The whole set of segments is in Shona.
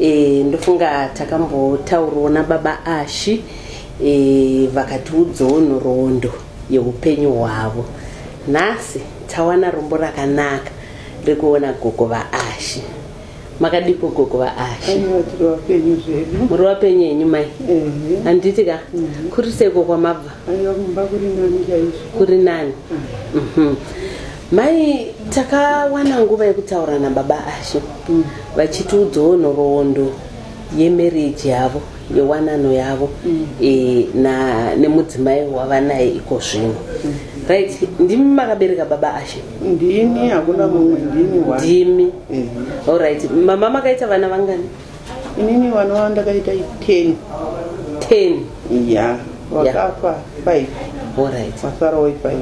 e, ndofunga takambotaurwa nababa ashi e, vakatiudzawo nhoroondo yeupenyu hwavo nhasi tawana rombo rakanaka rekuona gogo vaashi makadiko gogo vaashi muri wapenyu henyu mai handiti ka mhm. kuri seko kwamabva kuri nani mhm. Mai takawana nguva yekutaura nababa Ashe mm. vachitiudzawo nhoroondo yemarriage yavo yewanano yavo mm. e, na nemudzimai wavanaye iko zvino mm. right ndimi makabereka baba Ashe ndimi hakuna mumwe ndimi ndimi mm. all right mama makaita vana vangani inini vana vavo ndakaita 10 10 ya vakafa 5 alright vasara wai 5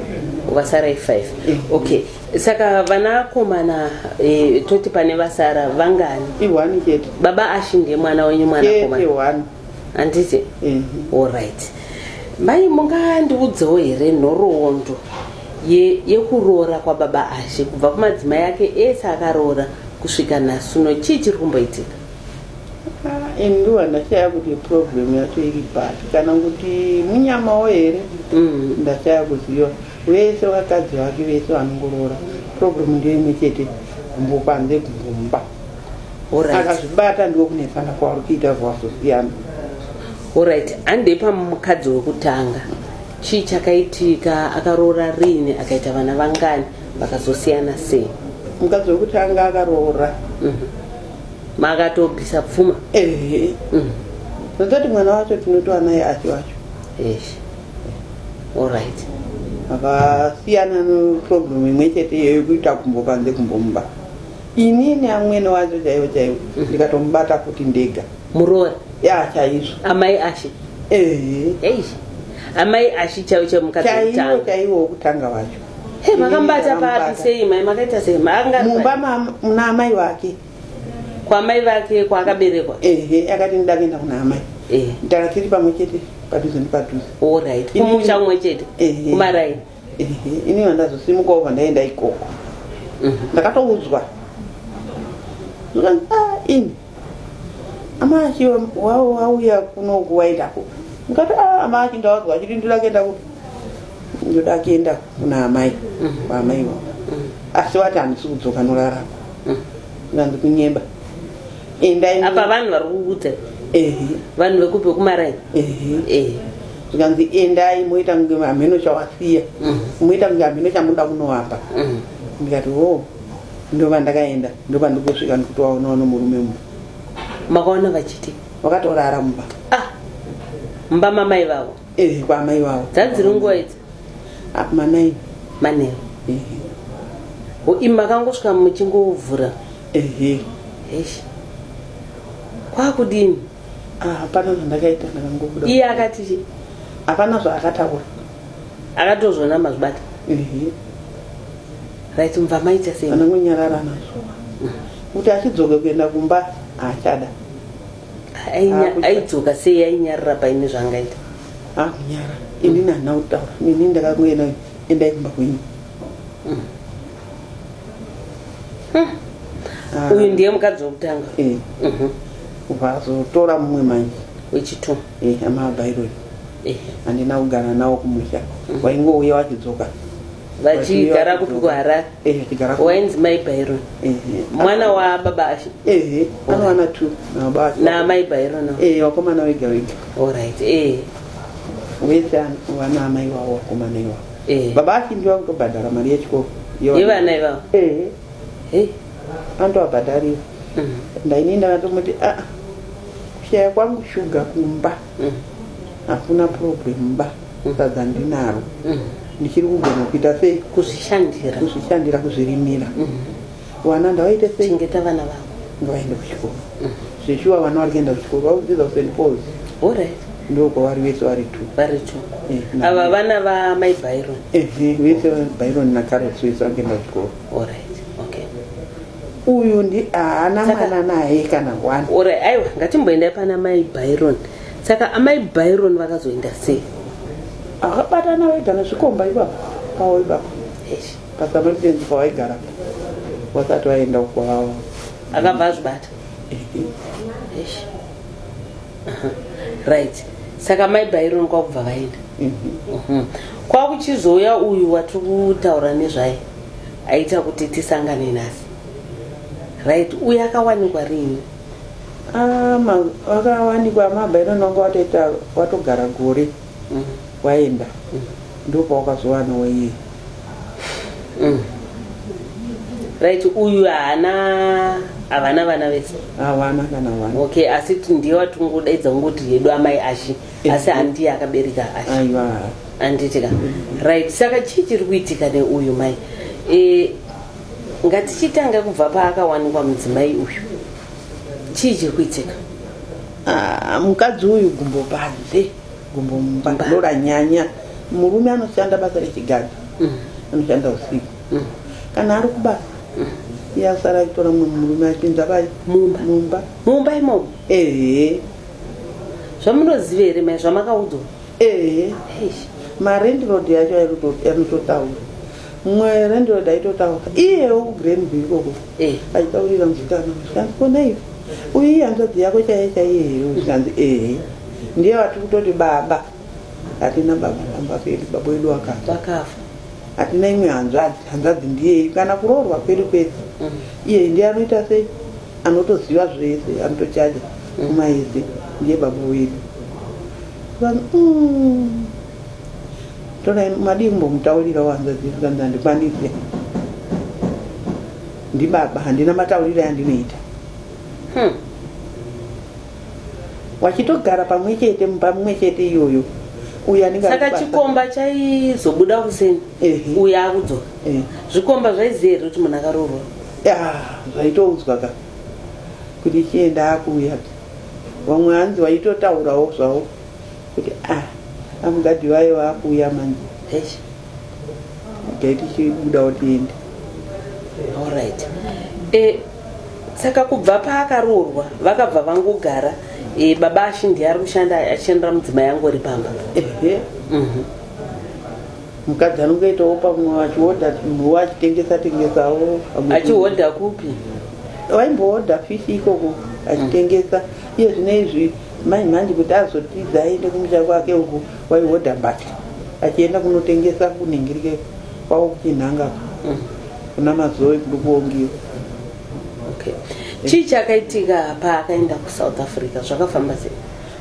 vasara i 5 Eh. okay saka vana akomana eh, toti pane vasara vangani ihwani chete baba ashi ndiye mwana wenyu mwana chete akomana hwani handiti ehe alright Mai mungandiudzewo here nhoroondo ye, yekuroora kwababa Ashe kubva kumadzimai ake ese akaroora kusvika nhasi uno chii chiri kumboitika? Ah, ini ndiwa ndashaya kuti problem yacho iri papi kana kuti munyamawo here Mm. ndashaya kuziva vese vakadzi vake vese vanongoroora problem ndiyo imwe chete gumbo panze gumbo mumba Alright. akazvibata ndiwo kunetsana kwaari kuita zvawazosiyana Alright, hande pamukadzi wekutanga chii chakaitika akaroora riini akaita vana vangani vakazosiyana sei mukadzi wekutanga akaroora Mhm. makatobvisa pfuma ehe Mhm. ndatoti mwana wacho tinotova naye achi wacho Eish. Alright. akasiyana neproblem imwe chete iyoyo kuita kumbo panze kumbomuba inini amwene wacho chaivo chaivo ndikatomubata futi ndega muroora ya chaizvo amai ashe ehe eish amai ashi chaivo chaivo mukadzi chaiwo wekutanga chaiwo wokutanga wacho Hey, makambata Iye papi akambata. sei mai makaita sei maanga mumba ma- muna amai vake kwamai vake kwaakaberekwa ehe akati ndida kuenda kuna amai Eh, ndaka tiri pamwe chete padhuze nepadhuze alright Ini- kumusha kumwe chete Ehe. kumaraini ehe ini vandazosimuka ova ndaenda ikoko ndakatoudzwa Zvikanzi, "Ah, ini amaki wavo vauya kuno kuwaitako ndikati ah, amaki ndawadzwa achiti ndoda kuenda kupi ndoda kuenda kuna amai kwaamai mm. vavo mm. asi wati handisi kudzoka norarako mm. nganzi kunyemba endaapa vanhu vari kuudza vanhu vekupi vekumarai zvikanzi endai moita kunge hameno chawasiya moita kunge hameno chamunoda kunoapa ndikati o oh. ndova ndakaenda ndopandikosvika ndikutovaonawo nomurume mumba makaona vachiti vakatorara mumba ah mumba mamai vavo eh kwamai vavo dzadziri nguva idzi ah, manai manai eh. makangosvika muchingovhura ehe eish kwakudini ah, hapana zvandakaita ndakangobuda iye akati hapana zvaakataura akatozvona mazvibata Ehe. right mva maita sei anongonyarara nazvo kuti achidzoke kuenda kumba haachada Ainya- Akucha- aidzoka sei ainyarira paine zvaangaita akunyara ini nana kutaura ini ndakangoenda endai kumba kwenyu Ah, uyu ndiye mukadzi wekutanga eh, Mhm. kubva azotora mumwe manje wechitu eh, hama abairoi eh. handina kugara nawo kumusha mm. waingouya wachidzoka vachigara kupi kuharare eh, wainzi mai byron mwana wababa ashe anowana two namai byron wakomana wega wega orit wese wana amai wavo wakomana iwavo baba ashe ndiwa kutobhadhara mari yechikoro yevana ivavo andovabhadharira mm. ndainini ndakatomuti aa ah, Kushaya kwangu shuga kumba mm. hakuna problem ba mm. sadza ndinaro mm. ndichiri kugona kuita sei kuzvishandira kuzvishandira kuzvirimira vana ndavaite sei chengeta vana vavo ngavaende kuchikoro zveshuwa vana vari kuenda kuchikoro vakudzidza kuseni pos orit ndokwavari vese vari t vari t eh, ava vana vamai byron vese byron nacarot vese vakuenda kuchikoro orit uyu ndi haana mwana naye kana one ora aiwa ngatimboendai pana mai byron saka amai byron vakazoenda sei akabatana vega nezvikomba ipapo pawo ipapo pasametenzi pawaigara wasati vaenda kwawo akabva azvibata right saka mai byron kwakubva vaenda mhm. mhm. kwakuchizouya uyu watiri kutaura nezvaye aita kuti tisangane nhasi right uye akawanikwa rini ah, akawanikwa mabva inonanga watoita watogara gore mm. waenda mm. ndopawakazowanawo iye mm. right uyu haana havana vana vese havana kana vana okay asi ndiye watingodaidza kungoti hedu amai ashi asi handiye akabereka aiwa anditika right saka chii chiri kuitika neuyu mai e, ngatichitanga kubva paakawanikwa mudzimai uyu chii chiri kuitika Ah, mukadzi uyu gumbo panze gumbo mumba Mumba. ndoranyanya murume anoshanda basa rechigadhi Mm. anoshanda usiku Mm. kana ari kubasa iye asara aitora mumwe murume achinza pai Mumba. mumba mumba imomo ehe zvamunoziva here mai zvamakaudzwa ehe marendlord yacho anototaura mwe rendlord aitotaura iyewo kugrandby ikoko eh. aitaurira muzikana zvikanzi konaivo uyu iye hanzvadzi yako chaiye chaiye here zvikanzi ehe ndiye vati kutoti baba hatina baba pamba pedu baba wedu wakafa hatina imwe hanzvadzi hanzvadzi ndiyeyi kana kuroorwa kwedu kwese mm. iyeyi ndiye anoita sei Anotoziva zvese anotochaja mm. kumaidzi ndiye baba wedu vanhu mm. tona madii kumbomutaurirawo hanzvadzi zvikanzi handikwanise ndibaba handina matauriro yandinoita hmm. wachitogara pamwe chete mumba mumwe chete iyoyo saka chikomba chaizobuda kuseni uyo akudzoka eh. zvikomba zvaiziva here kuti munhu akaroorwa Yeah, zvaitoudzwa ka kuti chienda akuuya vamwe hanzi vaitotaurawo zvavo kuti ah amugadi vaye vakuuya manje eish igai tichibudawo tiende alright eh, saka kubva paakaroorwa vakabva vangogara eh, baba ashindi ari kushanda achishandira mudzimai yangu ri pamba ehe Mhm. mukadzi anongoitawo pamwe achihodha munhu achitengesa tengesawo achihodha kupi waimbohodha fishi ikoko achitengesa iye zvine izvi mai mhandi kuti azotiza aende kumusha kwake uku waihodha mbati achienda kunotengesa kunhingirike kwavo kuchinhanga mm. kuna mazoe kudukuongiwa okay. chii chakaitika paakaenda kusouth africa zvakafamba sei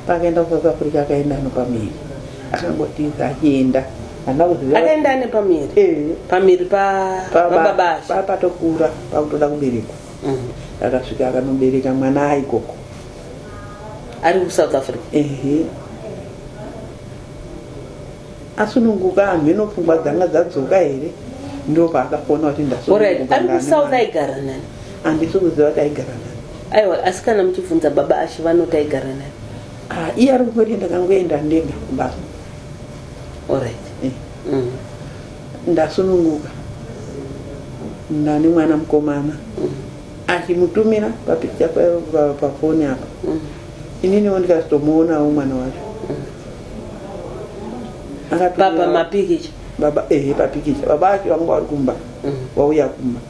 Paakaenda kuSouth Africa akaenda ano pamiri. Akangotiza achienda. Hana kuziva. Akaenda ane pamiri. Eh. Pamiri pa baba Pa patokura pakutoda kuberekwa. Mhm. Akasvika akanobereka mwana aikoko. Ari kuSouth Africa. Ehe. Eh. asununguka hanhu eno pfungwa dzanga dzadzoka here ndo paakafona kuti ndasunungukaaigaranani andisi kuziva kuti aigara nani aiwa asi kana muchibvunza baba ashe vanoti aigara nani ah, iye ari kungoti ndakangoenda ndega kumbasa orit eh. mm. ndasununguka nani mwana mukomana mm. achimutumira papikicha pafoni apa mm. ininiwo ndikazitomuonawo mwana wacho Akatumira- baba mapikicha baba ehe papikicha baba ake vanga vari kumba vauya kumba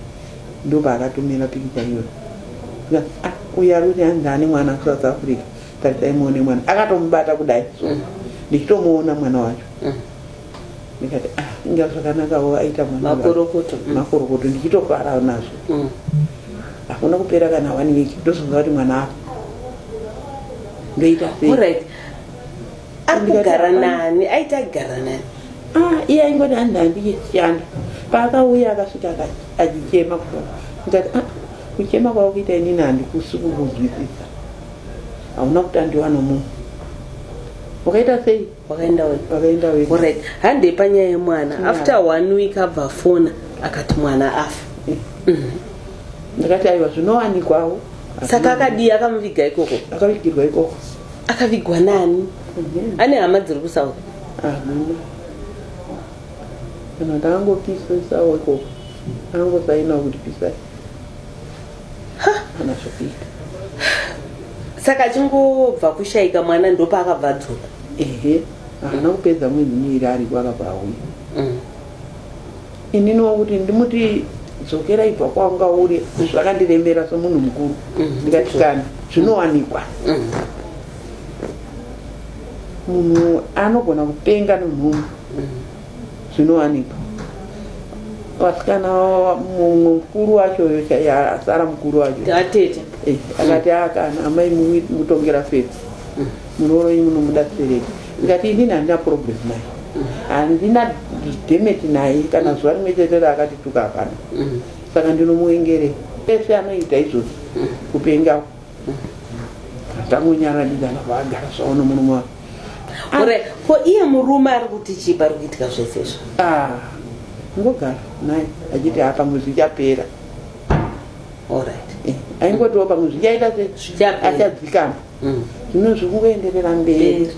ndo paakatumira pikicha iyoyo Nga, "Ah, uyu ari kuti hanzi ane mwana kusouth africa tarisai muone mwana akatomubata kudai so ndichitomuona mwana wacho ndikati "Ah, inga zvakanakawo aita mwana wa- makorokoto Mm. makorokoto ndichitofara nazvo Mm. hakuna kupera kana one week ndozonga kuti mwana apo ndoita sei Alright. ari kugara nani aiti aigara nani ah, iye aingoti handi handiyechiyanda paakauya akasvika achichema kuto ndikati ah, kuchema kwava kuita inini handikusi kukuzwisisa hauna kutandiwa nomunhu wakaita sei wakaenda wakaenda we orit handei panyaya yemwana after one week abva fona akati mwana afa eh. mm. ndakati aiwa zvinowanikwawo saka akadii akamuviga ikoko akavigirwa ikoko akavigwa nani mhm. ane hama dziri kusouth hamuna kana ndakangopisesa weko angosaina kuti pisai kana zvokuita saka achingobva kushaika mwana ndopaakabva adzoka ehe haana kupedza mwedzi miiri ariko akabva auya mm. inini wangu kuti ndimuti dzokera ibva kwanga uri zvakandiremera somunhu mukuru mhm. ndikatikana zvinowanikwa mhm. munhu anogona kupenga nomhumwe mhm. zvinowanikwa vasikana mumwe mukuru wacho asara mukuru wacho eh, akati akana amai mutongera fedzi Muroyi munomuda kubereka ndikati inini handina problem naye handina demet naye kana zuva rimwe chete raakatituka hapana saka ndinomuengerei ese anoita izvozvo kupenga tangonyaranidzana vaagara zvavo nomurume wavo ore ko iye murume ari kuti chii pari kuitika zvese izvo Ah, ngogara naye achiti ha pamwe zvichapera orit Eh, aingotiwo pamwe zvichaita se Zvichapera. achadzikama mm. zvino zviri kungoenderera mberi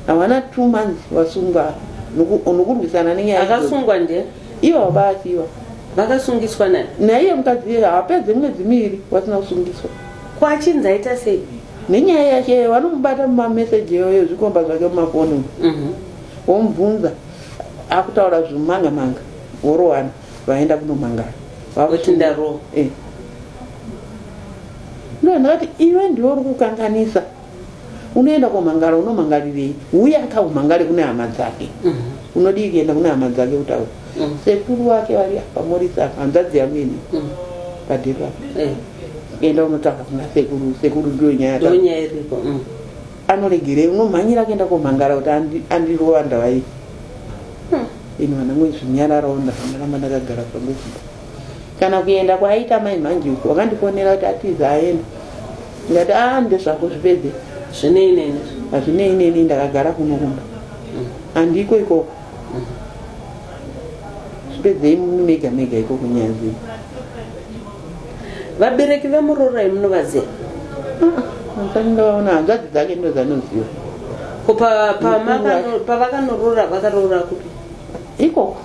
havana two months vasungwa nokurwisana nenyayaakasungwa nde ivo vabaasiwa vakasungiswa nani naiye mukadzi iye hapedze mwedzi miviri vasina kusungiswa kwachinzi aita sei nenyaya yake vanomubata mumameseji yoyo zvikomba zvake mumafoni mhm. womubvunza akutaura zvimangamanga worowana vaenda kunomangara vavoti ndarowa eh. ndo ndakati iwe ndiwe uri kukanganisa unoenda komangara unomangarirei uye akaumangare kune hama dzake mhm. unodii kuenda kune hama dzake kutaura mhm. sekuru wake vari pamorisi apa hanzvadzi yangu ini mhm. padhiri apa eh. enda unotaura kuna sekuru sekuru ndiyo nyaya iripo anoregerei unomhanyira kuenda komangara kuti andirova ndavaii Ini vana mwedzi nyararawo ndakamuramba ndakagara pangu kumba. Kana kuenda kwaaita mai mhanji uko wakandifonera kuti atiza aenda. Ndikati ah ndezvako zvipedze. Zvinei neni. Hazvinei neni ndakagara kuno kumba. Mm. Andiko ikoko. Mm. Zvipedzei mega mega ikoko nyaya zii. vabereki vemurorai munovaziva ndinovaona hanzvadzi dzake ndo dzanoziva ko pavakanorora vakaroora kupi ikoko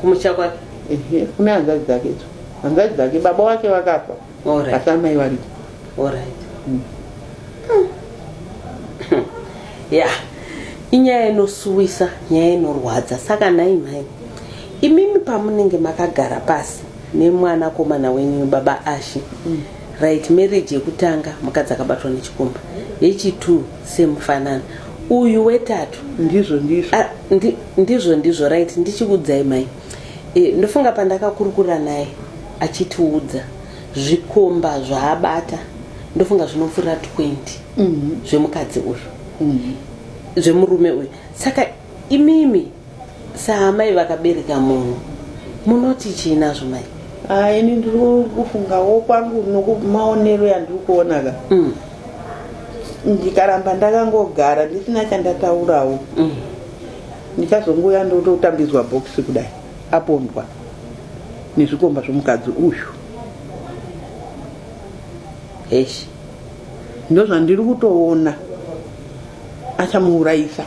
kumusha kwake kune hanzvadzi dzake idzo hanzvadzi dzake baba wake vakafa asi amai variko hmm. ya inyaya inosuwisa nyaya inorwadza saka nhai mhai imimi pamunenge makagara pasi nemwana komana wenyu baba ashe mm. right marriage yekutanga mukadzi akabatwa nechikumba yechitwo semufanana uyu wetatu ndizvo ndizvo ah, ndi, ndizvo ndizvo right ndichikuudzai mai e, ndofunga pandakakurukura naye achitiudza zvikomba zvaabata ndofunga zvinopfuura 20 mm -hmm. zvemukadzi uyu mm -hmm. zvemurume uyu saka imimi Saamai vakabereka munhu munoti chii nazvo mai? Ah, ini ndiri kufungawo kwangu nokumaonero yandiri kuona ka mm. ndikaramba ndakangogara ndisina chandataurawo mm. ndichazongouya ndototambidzwa bhokisi kudai apondwa nezvikomba zvomukadzi uyu heshi ndozvandiri kutoona achamuurayisa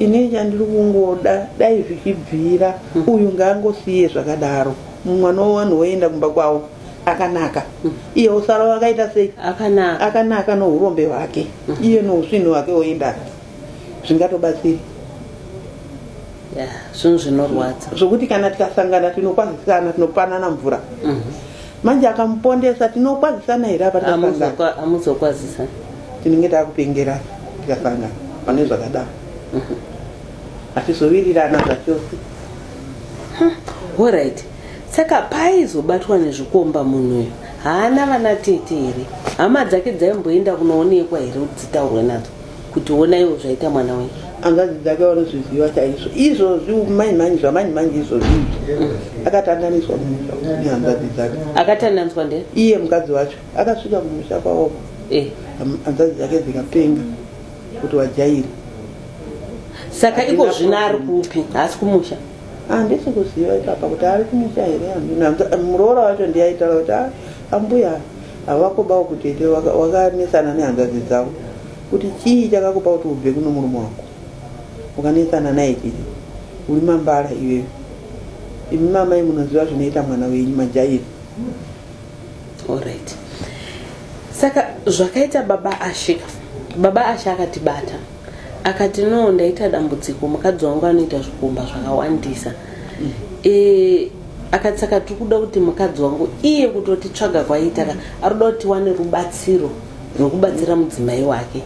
ini chandiri kungoda dai zvichibvira mm. uyu ngaangosiye zvakadaro mwana wevanhu woenda kumba kwavo akanaka mm. iye usara wakaita sei akanaka, akanaka nourombe hwake mm. iye nousvini hwake woenda zvingatobatsiri zvinhu zvinorwadza zvokuti kana tikasangana tinokwazisana tinopanana mvura mm -hmm. manje akamupondesa tinokwazisana here apa amuzokwazisana tinenge takupengerana tikasangana pane zvakadaro mhm. hatizovirirana zvachose horit saka paizobatwa nezvikomba munhu uyo haana vana tete here hama dzake dzaimboenda kunoonekwa here kuti dzitaurwe nadzo kuti wona iwo zvaita mwana wenyu hanzvadzi dzake vanozviziva chaizvo izvozvi manje manje zvamanje manje izvozvi akatandaniswa mumusha nehanzvadzi dzake akatandaniswa nde iye mukadzi wacho akasvika mumusha kwaoko eh. hanzvadzi dzake dzikapenga kuti wajairi saka iko zvino ari kupi haasi kumusha handisi ah, kuziva ipapa kuti ari kumusha here muroora wacho ndiyaitaura kuti ah, ambuya Havakobawo kutete waka, wakanetsana nehanzvadzi dzavo kuti chii chakakupa kuti ubve kuno murume wako ukanetsana naye tete uri mambara iwewe imi mamai munoziva zvinoita mwana wenyu majairi alright saka zvakaita baba ashe baba ashe akatibata akati no ndaita dambudziko mukadzi wangu anoita zvikomba zvakawandisa mm. e, akati saka tiri kuda kuti mukadzi wangu iye kutoti tsvaga kwaiita ka ari kuda kuti wane rubatsiro rwekubatsira mudzimai wake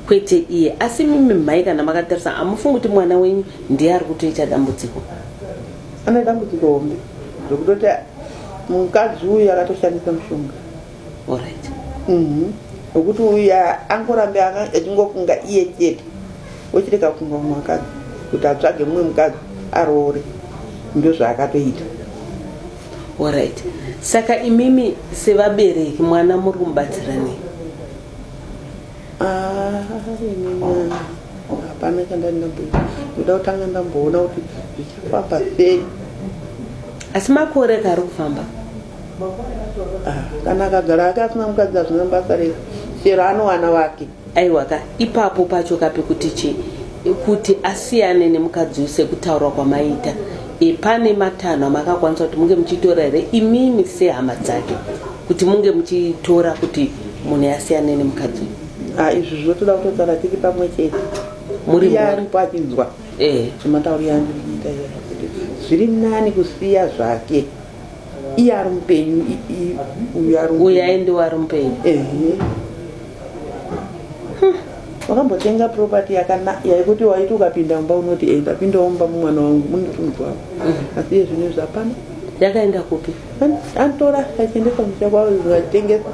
kwete iye asi mimi mhai kana makatarisa hamufungi kuti mwana wenyu ndiye ari kutoita dambudziko ane dambudziko hombe zvekutoti mukadzi uyu akatoshandisa mushonga Alright. Mhm. Nokuti uya angorambe aka- achingofunga iye chete ochirega kufunga mumwe mukadzi kuti atsvage mumwe mukadzi aroore ndozvaakatoita Alright. Saka imimi sevabereki mwana muri kumubatsira nei? Ah, ini mwana hapana chandandabhuya ndoda kutanga ndamboona kuti zvichafamba sei Asi makore kari kufamba. Ah, kana akagara ake asina mukadzi hazvina basa rese chero anowana vake aiwa ka ipapo pacho ka pekuti chi kuti asiyane nemukadzi uyu sekutaurwa kwamaita e, pane matanho amakakwanisa kuti munge muchitora here imimi sehama dzake kuti munge muchitora kuti munhu asiyane nemukadzi uyu Ah, izvi zvinotoda kutosara tiri pamwe chete Muri Iye mhuri. aripo achinzwa eh. zvematauriro andiri kuita iye. zviri nani kusiya zvake iye ari mupenyu uyu aende wari mupenyu wakambotenga property yaikuti waiti ukapinda mumba unoti e ndapindawo mumba mumwana wangu mundifunzwavo mm. asi iye zvino izvi hapana yakaenda kupi antora achiendesa musha kwavo zvatengesa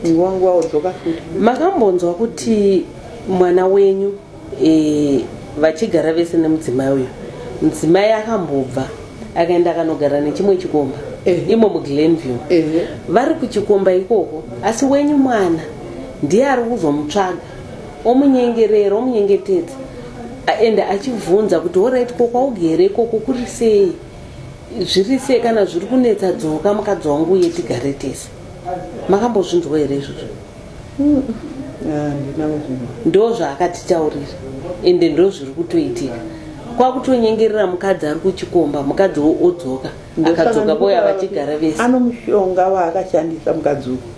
nguva nguva wodzoka futi makambonzwa kuti mwana wenyu e, vachigara vese nemudzimai uyu mudzimai akambobva akaenda akanogara nechimwe chikomba eh. imo muglenview eh. vari kuchikomba ikoko asi wenyu mwana ndiye ari kuzomutsvaga omunyengerera omunyengetedza ende achibvunza kuti orit ko kwaugere ikoko kuri sei zviri sei kana zviri kunetsa dzoka mukadzi wangu uye tigare tese makambozvinzwa here izvozvo ndo zvaakatitaurira ende ndo zviri kutoitika kwakutonyengerera mukadzi ari kuchikomba mukadzi odzoka akadzoka voya vachigara vese ano mushonga waakashandisa mukadzi uku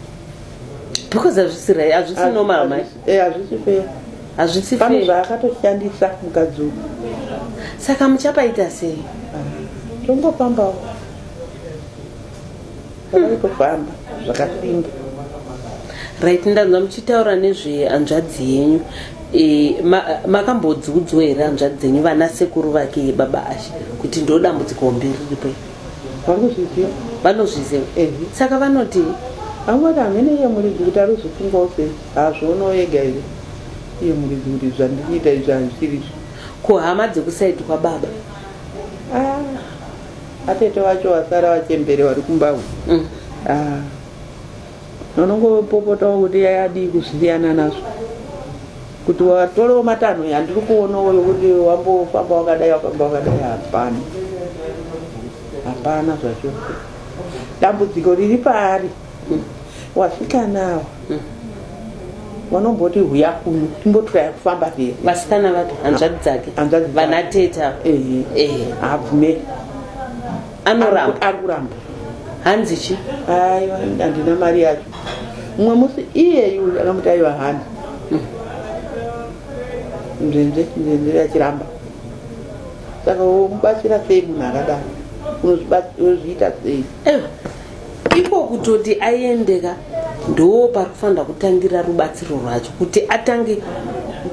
because hazvisi rai hazvisi normal mai eh, hazvisi fair hazvisi fair zvaakatoshandisa mukadzi uku saka muchapaita sei ah, tongopambawo Kufamba zvakapinda. Right ndanzwa muchitaura nezve hanzvadzi yenyu. E, ma, makambodziudzwa here hanzvadzi dzenyu vana sekuru vake baba Ashe kuti ndo dambudziko hombe riripo? Vanozviziva. Vanozviziva. Eh. Saka vanoti angoti hamene iye muridzi kuti ari kuzofungawo sei hazvoonawo yega here iye muridzi kuti zvandikuita izvi hazviri izvi kuhama dzekusaidi kwababa ah. Atete vacho vasara vachembere vari kumba uku. Mm. Ah. Vanongopopotawo kuti yadii kusiyana nazvo. Kuti watorewo matanho yandiri kuonawo yokuti wambofamba wakadai wakamba wakadai hapana. Hapana zvacho. Dambudziko riri paari. Vasikana ava vanomboti huya kuno timbotiraya kufamba here vasikana vapi hanzvadzi dzake Hanzvadzi dzake. vana teta ehe ehe habvume anoramba ari kuramba hanzi chi aiwa handina mari yacho mumwe musi iyeyu akamuti aiwa hana nzenze nzenze yachiramba saka womubatsira sei munhu akadaro Unozviba- unozviita sei Eh, iko kutoti aendeka ndoo pari kufanira kutangira rubatsiro rwacho kuti atange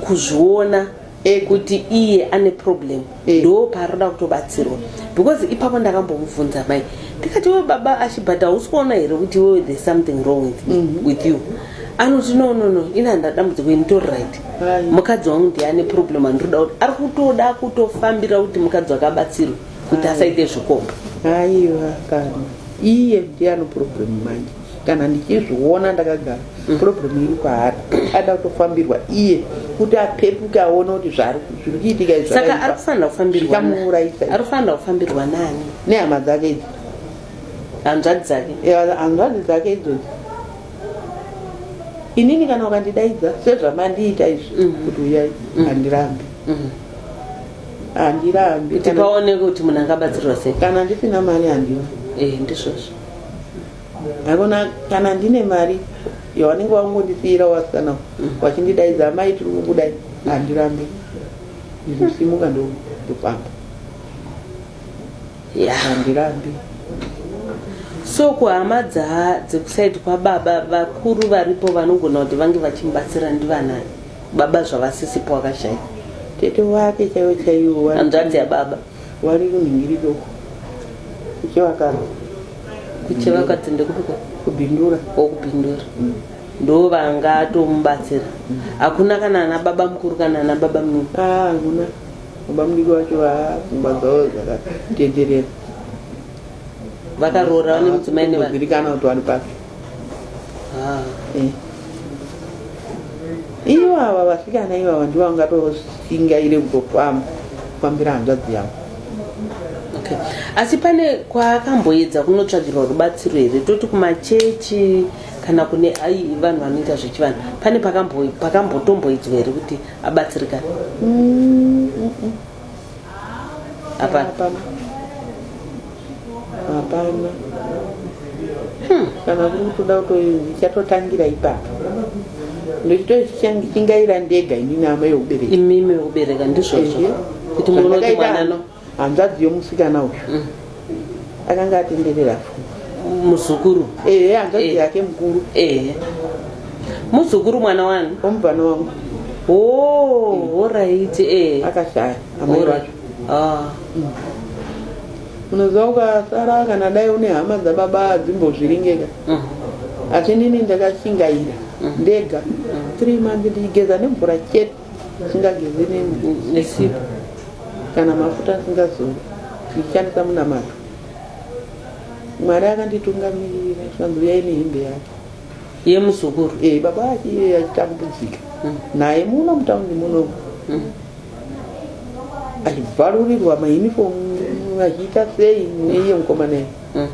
kuzviona e. kuti iye ane problem e. ndoo paroda kutobatsirwa because ipapo ndakambomubvunza mai ndikati we baba ashibhat hausi kuona here kuti wewe there's something wrong with, mm -hmm. with you anoti no no no ini handina dambudziko ini tori right mukadzi wangu ndiye ane problem andinoda kuti ari kutoda kutofambira kuti mukadzi wakabatsirwa kuti asaite zvikomba aiwa kana iye ndiyani problem manje kana ndichizviona ndakagara mm. problem iri kwaari ada kutofambirwa iye kuti apepuke aone kuti zvari kuitika saka ari kufanira kufambirwaikamuuraisa ari kufanira kufambirwa nani nehama dzake idzi hanzvadzi dzake hanzvadzi dzake idzozi inini kana ukandidaidza sezvamandiita izvi mm. kuti uyai mm. handirambi handirambi kuti paoneke kuti munhu angabatsirwa sei kana ndisina mari handiwa eh, ndizvozvo haikona kana ndine mari yawanenge wangondisiyira wasikana mm. wachindidaidza amai tiri kukudai handirambi ndinosimuka ndofamba handirambi so kuhama dzekuside kwababa vakuru varipo vanogona kuti vange vachimubatsira ndivanani baba zvavasisipo wakashaya tete wake chaiwo chaiwo hanzvadzi yababa wari kunhingiri doko kuchivakaro kuchivakati ndekupiko kubhindura okubhindura mm. ndo vanga atomubatsira mm. hakuna kana ana baba mukuru kana ana baba mnini ah, hakuna baba mdiki wacho vapfungwa dzavo dzakatenderera vakaroora vane mudzimai nevairikana kuti wani pake Ah, eh. Ivo ava vasikana ivava ndivo vangatoshingaire kutofamba kufambira hanzvadzi yavo okay. asi pane kwaakamboedza kunotsvagirwa rubatsiro here toti kumachechi kana kune ai vanhu vanoita zvechivanhu pane pakambotomboedzwa here kuti abatsirikana mm, mm, mm. hapana hapana hapana Hmm. kana kuri kutoda kutoichatotangira ipapo ndochitochingaira ndega ini nama yeubereki imimi wekubereka ndizvozvo Ehe. kuti munonotimwanano hanzvadzi yomusikana uyu akanga atenderera muzukuru ehe hanzvadzi eh. yake mukuru ehe muzukuru mwana wani omubvana wangu oh, orit eh. akashaya amai vacho ah. mm. unoziva ukasara kana dai une hama dzababa dzimbozviringeka mm. asi nini ndakashingaira mm. ndega three months ndigeza nemvura chete Usingageze nesipo kana mafuta asingazori ndichishandisa munamato. Mwari akanditungamirira zvikanzi uyai nehembe yake yemuzukuru e eh, baba ake iye achitambudzika hmm. naye muno mutaundi muno hmm. achibvarurirwa maunifomu achiita sei neiye mukomana iyi hmm.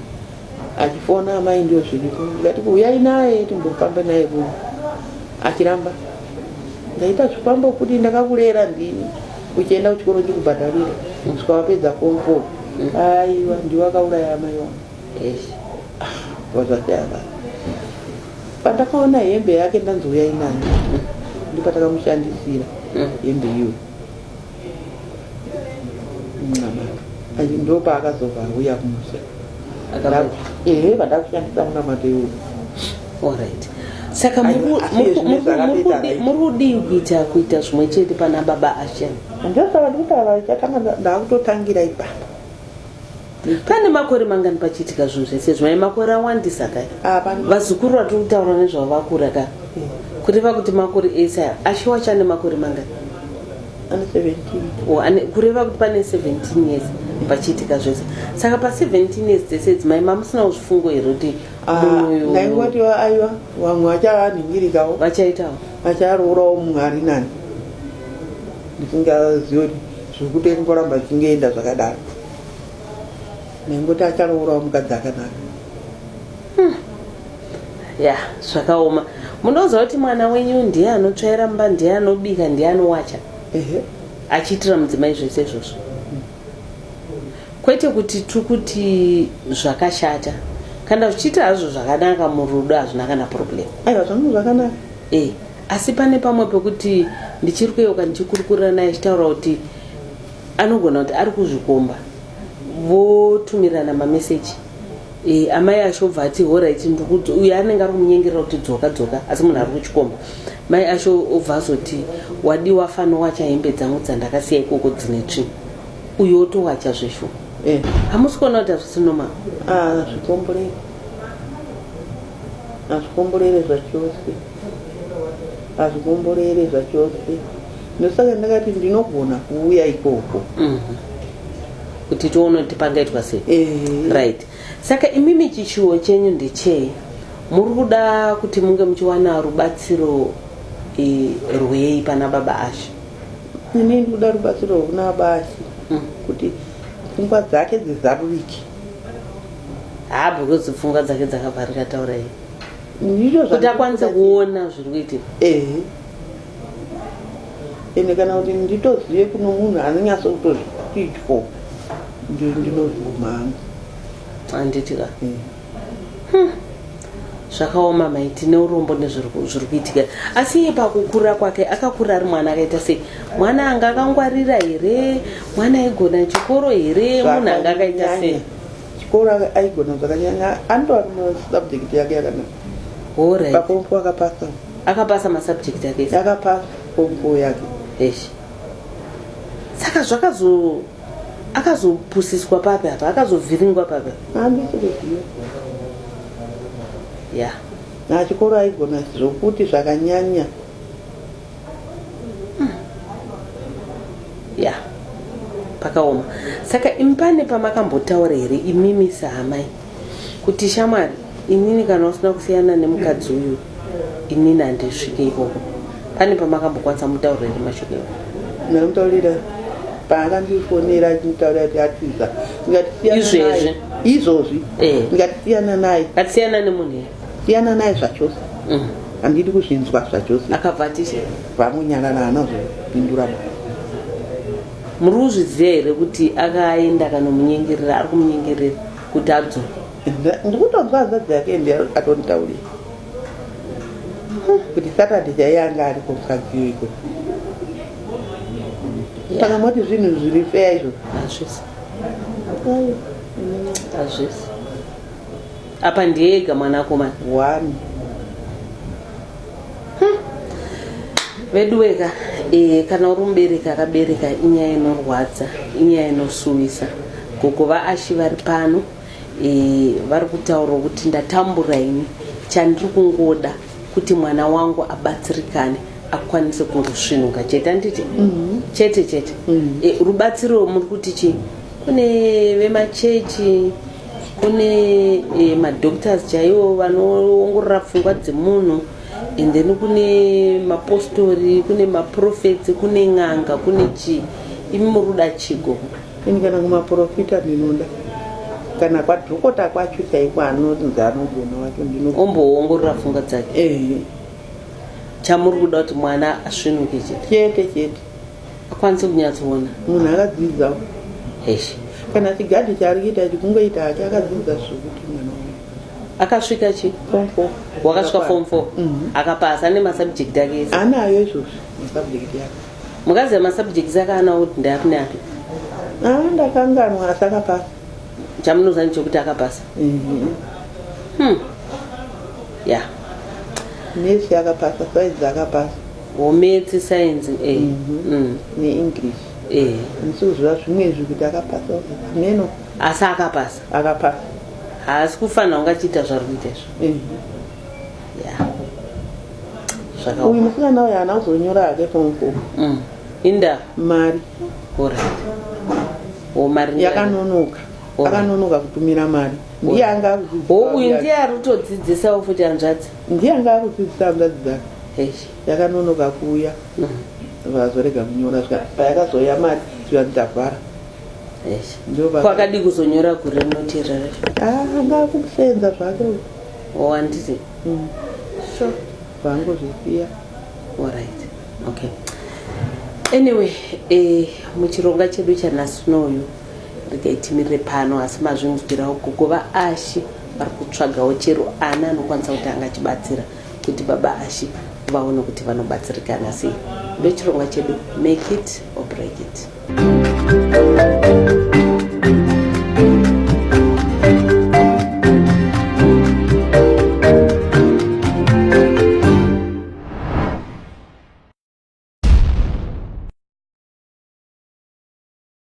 achifona amai ndiyo zviripo ndikati huyai naye timbofambe naye kuno achiramba ndaita zvifambo kuti ndakakurera ndini uchienda kuchikoro chikubhadharira kusvika wapedza komfo aiwa ndiwe akauraya amai wangu vazvatava pandakaona hembe yake ndanzi huyai nayo ndipatakamushandisira hembe iyoyo ndopaakazobva auya kumusha ehe vadakushandisa munamato iwoyo orit saka muri kudii kuita kuita zvimwe chete pana baba ashen ndosaka ndikutaura chakandakutotangira ipapo pane makore mangani pachiitika zvinhu zvese zvimai makore awandisa kai ah, vazukuru vatiri kutaura nezvavo vakura ka kureva kuti makore ese aya ashiwa chane makore mangani oh, kureva kuti pane 17 years pachiitika zvese saka pa 17 years dzese idzi mai mamusinawo zvifungo here kuti ndaingoti ah, aiwa vamwe vachavanhingirikawo vachaitawo vacharourawo munhu ari nani ndisingazivi kuti zviri kutengoramba zvichingeenda zvakadaro nengoti acharourawo mukadzi akanaka hmm. ya zvakaoma munoziva kuti mwana wenyu ndiye anotsvaira mumba ndiye anobika ndiye anowacha achiitira mudzimai zvese izvozvo kwete kuti tiri kuti zvakashata kana zvichiita hazvo zvakanaka murudo hazvina kana problem aiwa zvangu zvakanaka e asi pane pamwe pekuti ndichiri kuyeuka ndichikurukurira naye achitaura kuti anogona kuti ari kuzvikomba votumirana mameseji e, eh, amai asho obva ati horit ndikuti uyo anenge ari kumunyengerera kuti dzoka dzoka asi munhu ari kuchikomba mai asho obva azoti wadiwa fanowacha hembe dzangu dzandakasiya ikoko dzine tsvi uyo otowacha zveshu eh. hamusi e. kuona kuti hazvisinoma ah, zvikomborei hazvikomborere zvachose hazvikomborere zvachose ndosaka ndakati ndinogona kuuya ikoko mhm. kuti tione kuti pangaitwa sei eh. right saka imimi chishuwo chenyu ndechei muri kuda kuti munge muchiwana rubatsiro eh, rwei pana baba ashe ini ndikuda rubatsiro rwekuna baba ashe mm. kuti pfungwa dzake dzizarurike haa because pfungwa dzake dzakavharika taurai kuti akwanise kuona zviri kuitika ehe ende kana kuti nditozive kuno munhu anonyatso kutozvityo ndinozvigumanga handiti ka eh. hmm. zvakaoma mai tine urombo nezviri kuitika asi iye pakukura kwake akakura ari mwana akaita sei mwana anga akangwarira here mwana aigona chikoro here munhu anga akaita sei chikoro aigona zvakanyanya anotova masubject yake yakanaka horai papompo akapasa akapasa masubject ake ese. akapasa pompo yake Eish. saka zvakazo akazopusiswa papi apa akazovhiringwa papi apa? andisikuziva ya na chikoro aigona zvokuti zvakanyanya hmm. ya yeah. pakaoma saka impane pamakambotaura here imimi sahamai kuti shamwari inini kana usina kusiyana nemukadzi uyu inini handisvike ikoko pane pamakambokwanisa mutauro here mashoko iwo namutaurira paakandifonera achimutaurira kuti atiza ndikati izvezvi izvozvi eh. ndikati siyana naye atisiyana nemunhu here siyana naye zvachose mm. handidi kuzvinzwa zvachose akabva atise vamunyarara hana kuzopindura mwana muri kuzviziva here kuti akaenda kanomunyengerera ari kumunyengerera kuti adzoka ndikutonzwa hanzadzi yake ndi atonditaurira kuti saturday chaiye anga ari komukadzio iko saka moti zvinhu zviri feya izvo hazvisi hazvisi Apa ndiye ega mwanakomana. One. Hmm. Veduweka eh, kana uri mubereki akabereka inyaya inorwadza inyaya inosuwisa gogo vaashi vari pano eh, vari kutaura kuti ndatambura ini chandiri kungoda kuti mwana wangu abatsirikane akwanise kungosvinuka chete anditi mm -hmm. chete chete mm -hmm. e, rubatsiro muri kuti chii kune vemachechi kune eh, madoctors chaiwo vanoongorora pfungwa dzemunhu and then kune mapostori kune maprofets kune n'anga kune chii imi muri kuda chigo ini kana kumaprofita ndinoda kana kwadhokota kwacho chaiko anonzi anogona wacho ndino omboongorora pfungwa dzake ehe chamuri kuda kuti mwana asvinuke chete chete chete akwanise kunyatsoona munhu akadzidza hesh kana chigadhi chaari kuita ichi kungoita hake akadzidza zvekuti mwana wangu akasvika chi form four wakasvika form four Mhm. akapasa ane masubject ake ese anayo izvozvo masubject yake mukadzi amasubjects ake anawo kuti ndaapi neapi aa ndakanganwa asi akapasa chamunoziva ndichokuti akapasa Mhm. hmm. ya nesi akapasa saizi akapasa Hometse science eh. Mhm. Mm. neenglish Eh. handisi kuziva zvimwe izvi kuti akapasa hameno Asi akapasa. akapasa Haasi kufanira kunge achiita zvari kuita izvo. Eh. Yeah. uyu Zvakaoma. musikana uyu haana kuzonyora hake pompo Mm. Inda mari kura. Wo mari ndiye- yakanonoka Alright. akanonoka kutumira mari ndiye anga akuziziva Wo uyu uya. ndiye ari kutodzidzisawo futi hanzvadzi. Ndiye anga akudzidzisa hanzvadzi dzake. Eish yakanonoka kuuya. Vazorega kunyora zvika payakazoya mari zviya ndikavhara. Eish. Ndiyo baba. Kwakadii kuzonyora gure rinoti rere. Ah anga akusenza zvake. uyu. Oh handiti. Mm. Sure. Vangu zvisiya. Alright. Okay. Anyway, eh muchironga chedu chanhasi nouyu. regai timirire pano asi mazvinzwirawo gogo vaashi vari kutsvagawo chero ana anokwanisa kuti anga achibatsira kuti baba ashi vaone kuti vanobatsirikana sei ndechirongwa chedu make it or break it